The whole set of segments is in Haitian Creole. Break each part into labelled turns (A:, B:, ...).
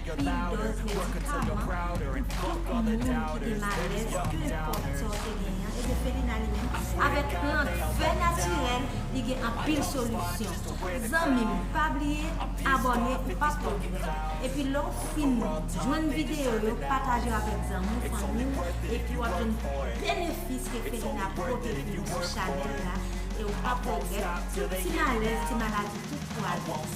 A: Pil
B: dòz medikaman pou
A: tout
B: moun ki gen malèz ke
A: pòp sa
B: w te
A: genyen
B: an
A: ebyen Felina li menm avèk plant fè natirèl li gen anpil solisyon zanmi m pa bliye abòne ou pap regrèt epi lè w fin jwenn videyo yo pataje yo avèk zanmi w fanmi w epi wap jwenn benefis ke Felina pote pou nou sou chanèl la e w pap regrèt ti malèz ti maladi tout pwale.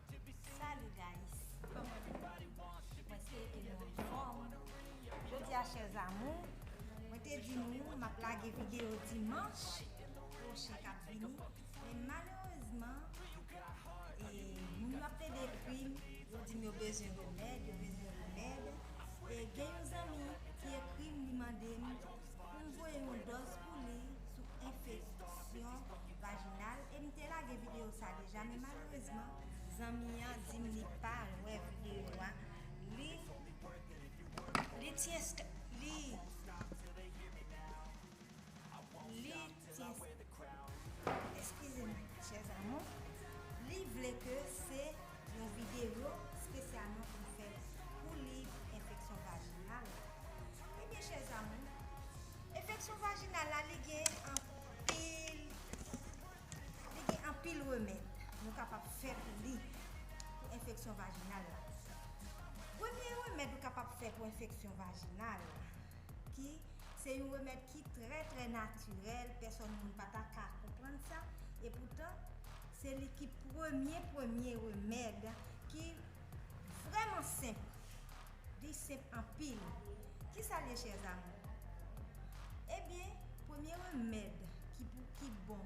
A: Salut guys kòman nou ye mwen espere ke nou anfòm jodi a chè zamou mwen te di nou map lage video dimanch pwochen kap vini men malerezman e moun yo ap plede ekrim yo dim yo bezwen remèd yo bezwen remèd e gen yon zanmi ki ekrim li mandem pou m voye yon dòz pou li sou enfeksyon vajinal e m te lage videyo sa deja men malerezman zanmi an di m li pa wè videyo a li li li Eskize m chers amours, li vle ke se yon videyo spesyalman pou m fè pou li enfeksyon vajinal la. Ebyen chers amours, enfeksyon vajinal la li gen anpil, li gen anpil remèd nou kapab fè pou li, pou enfeksyon vajinal la. Premye remèd ou kapab fè pou enfeksyon vajinal. ki se yon remèd ki trè trè natirèl pèsòn moun pa ta ka konprann sa e poutan se li ki premye premye remèd ki vrèman senp li senp anpil ki sa l ye chè zamou ebyen premye remèd ki pou ki bon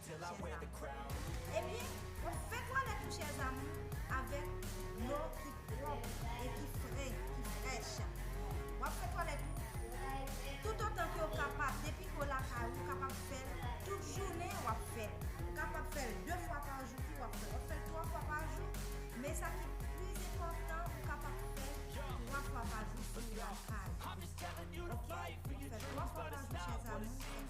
A: Ebyen, fè twalèt ou chè zamou avèk dlo ki pwòp e ki fre, ki frèch. W ap fè twalèt ou toutotan ke w kapab, depi ke w lakay ou, w kapab fè l tout jounen w ap fè l. Ou kapab fè l 2 fwa pa jou tou w ap fè l, w ap fè l 3 fwa pa jou, men sa ki pi enpòtan ou kapab fè l 3 fwa pa jou si w lakay ou. Ok, fè 3 fwa pa jou chè zamou.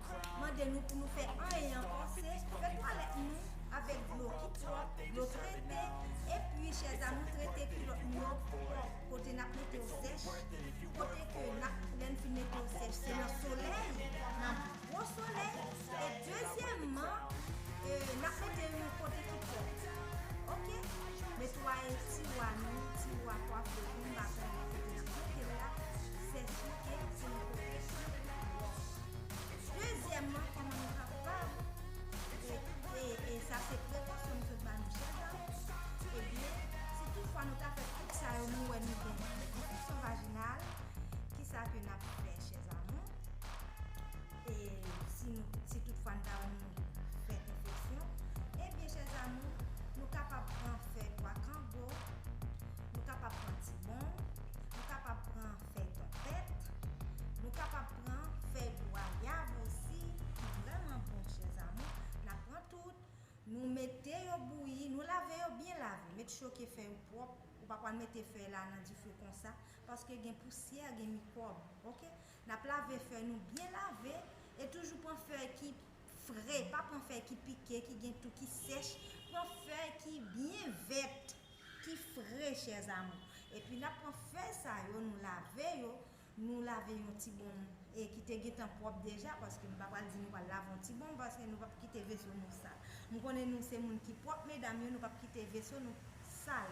A: mande nou pou nou fè anyen ankò se fè twalèt nou avèk dlo ki pwòp, dlo trete, epi chèzamou trete kilòt nou yo pwòp kote nap mete yo sèch, kote ke nap lèn fin mete yo sèch se nan solèy nan gwo solèy e dezyèmman nap mete yo kote ki pwòp ok netwaye tiwa nou tiwa kwafe nou mba konnen kote nap mete la sèche e pou nou kote ki pwòp. Dezyèmman, kòman nou kapab, e sa se prekosyon misye ba nou chèf la, ebyen, si tout fwa nou ta fè tout sa yo nou wè nou gen enfeksyon vajinal, kisa ke nap fè chè zamou? E si tout fwa nou ta wè nou fè enfeksyon, ebyen chè zamou, nou kapab pran fèy pwa kango, nou kapab pran tibon, nou kapab pran. fè tèt, nou kapab pran fèy gwayav osi ki vrèman bon chèzamou, na pran tout, nou mete yo bouyi, nou lave yo byen lave, met choke fèy ou pwòp, ou pa pwal mete fèy la nan dife konsa, paske gen pousyè, gen mikwòb ok, nap lave fèy nou byen lave, e toujou pran fèy ki fre, pa pran fèy ki pike, ki gen tou, ki sèch, pran fèy ki byen vèt. ki fre chè zamou epi nap pran fèy sa yo nou lave yo nou lave yon ti bonm e ki te gentan pwòp deja paske m pa pral di nou pral lave yon ti bonm paske nou pap kite veso nou sal m konnen nou se moun ki pwòp medam yo nou pap kite veso nou sal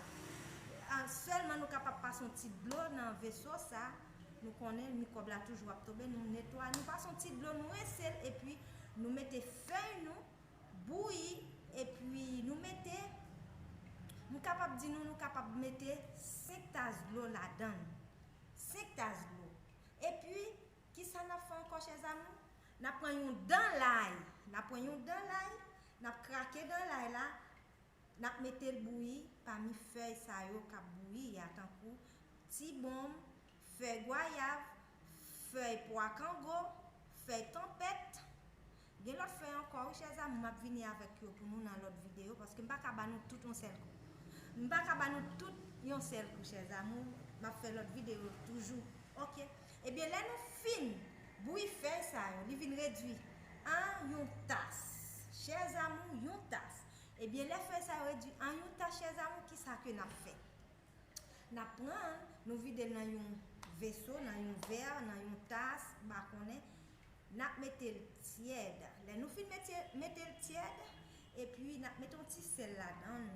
A: sèlman nou kapab pase yon ti dlo nan veso sa nou konnen mikwòb la toujou ap tobe nou netwaye nou pase yon ti dlo nou rinse l epi nou mete fèy nou Bouyi epi nou mete, m kapab di nou nou kapab mete 5 tas dlo ladann. 5 tas dlo. Epi, kisa n ap fè ankò chèz amou? N ap pran yon dan lay, n ap pran yon dan lay, n ap krake dan lay la, N ap mete l bouyi pami fèy sa yo k ap bouyi a tankou, ti bonm, fèy gwayav, fèy pwa kango, fèy tonpèt. Gen lòt fèy ankò wi chè zanmi m ap vini avèk yo pou nou nan lòt videyo paske m pa ka ba nou tout yon sèl kou. M pa ka ba nou tout yon sèl kou chè zamou m ap fè lòt videyo toujou ok. Ebyen lè nou fin bouyi fèy sa yo li vin redui an yon tas chè zanmi yon tas Ebyen lè fèy sa yo redwi an yon tach chèzanmi kisa ke nap fè? Nap pranl nou videl nan yon veso, nan yon vè, nan yon tas, m pa konnen, nap metel tyèd, lè nou fin metel tyèd epi nap mete yon ti sèl ladann,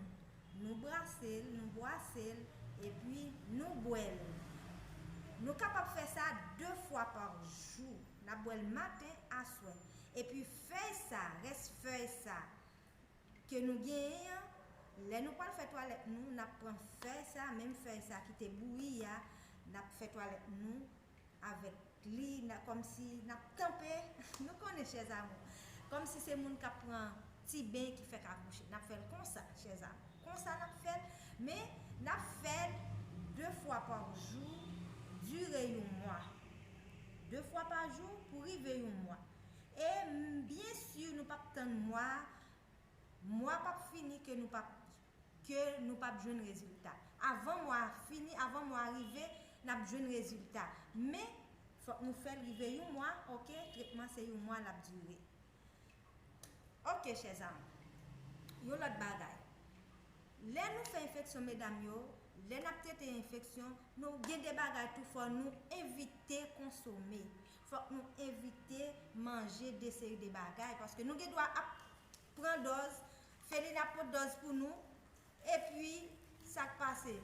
A: nou brasel, nou bwasel epi nou bwèl. Nou kapab fè sa 2 fwa pa jou, nap bwèl maten, aswè. Epi fèy sa, rès fèy sa. ke nou genyen an, lè nou pwal fè twalèt nou, nap pran fèy sa, menm fèy sa ki te bouyi a, nap fè twalèt nou avèk li, kòmsi nap tanpe, nou konnen chè zamou, kòmsi se moun kap pran ti ben ki fèk akouche, nap fèl konsa chè zamou, konsa nap fèl, men nap fèl 2 fwa pa jou, dire yon mwa, 2 fwa pa jou pou rive yon mwa. E m byen sur nou pap tann mwa mwa pap fini ke nou pap ke nou pap jwenn rezilta. Avan mwa a fini, avan mwa a rive, n ap jwenn rezilta. Men, fòk nou fè l rive yon mwa, ok, tretman se yon mwa l ap dire. Ok chè zanm, yon lòt bagay. Lè nou fè enfeksyon medam yo, lè n ap trete enfeksyon, nou gen de bagay tou fò nou evite konsome. Fòk nou evite manje de seri de bagay paske nou gen dwa ap pran dòz, Felina ap pot dòz pou nou epi sak pase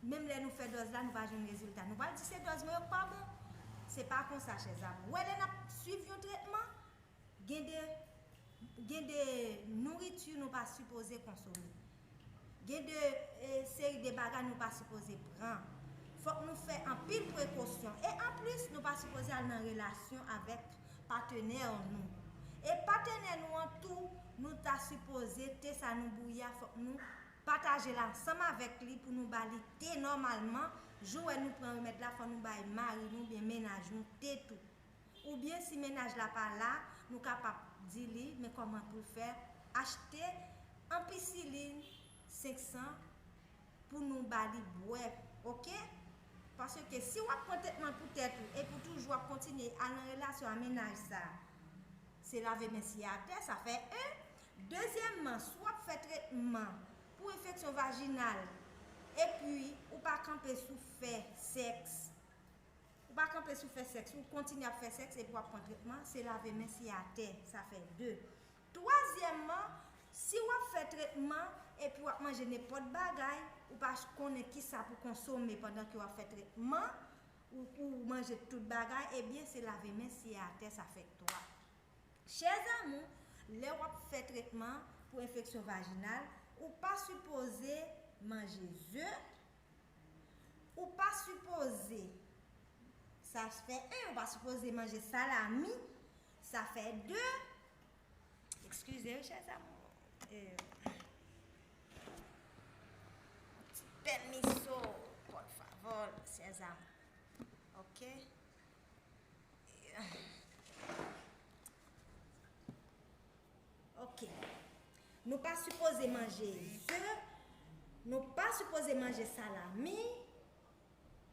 A: menm lè nou fè dòz la nou pa jwenn rezilta nou pral di se dòz mwen yo k pa bon se pa konsa chèzanmi wè lè nap swiv yon tretman Gen de gen de nouriti nou pa sipoze konsome. Gen de seri de bagay nou pa sipoze pran. Fòk nou fè anpil prekosyon. E anplis nou pa sipoze al nan relasyon avèk patenè nou. E patenè nou an tou nou ta sipoze te sa nou bouyi a fòk nou pataje l ansanm avèk li pou nou ba li te nòmalman. Jou wè nou pran remèd la fò nou bay mari nou oubyen menaj nou te tou. Oubyen si mennaj la pa la, nou kapab di li men kòman pou l fè achte anpisilin 500 pou nou ba li bwè ok. Paske si w ap pran tretman pou tèt ou epi w toujou ap kontinye al nan relasyon a mennaj sa se lave men siye atè sa fè 1. Dezyèmman si w ap fè tretman pou enfeksyon vajinal epi ou pa kanpe sou fè sèks. Ou pa kanpe sou fè sèks, ou kontinye ap fè sèks epi w ap pran tretman, se lave men se atè, sa fè 2. Twazyèmman, si w ap fè tretman epi w ap manje nenpòt bagay, ou pa konnen kisa pou konsome pandan ke w ap fè tretman, ou ou manje tout bagay, ebyen se lave men se atè, sa fè 3. Chè zamou, lè w ap fè tretman pou enfeksyon vajinal, ou pa sipoze manje ze, Ou pa sipoze Sa fè 1 Ou pa sipoze manje salami Sa fè 2 Ekskize wi chè zanmi Pèmiso Por favor Chè zanmi Ok Ok. Nou pa sipoze manje ze, nou pa sipoze manje salami.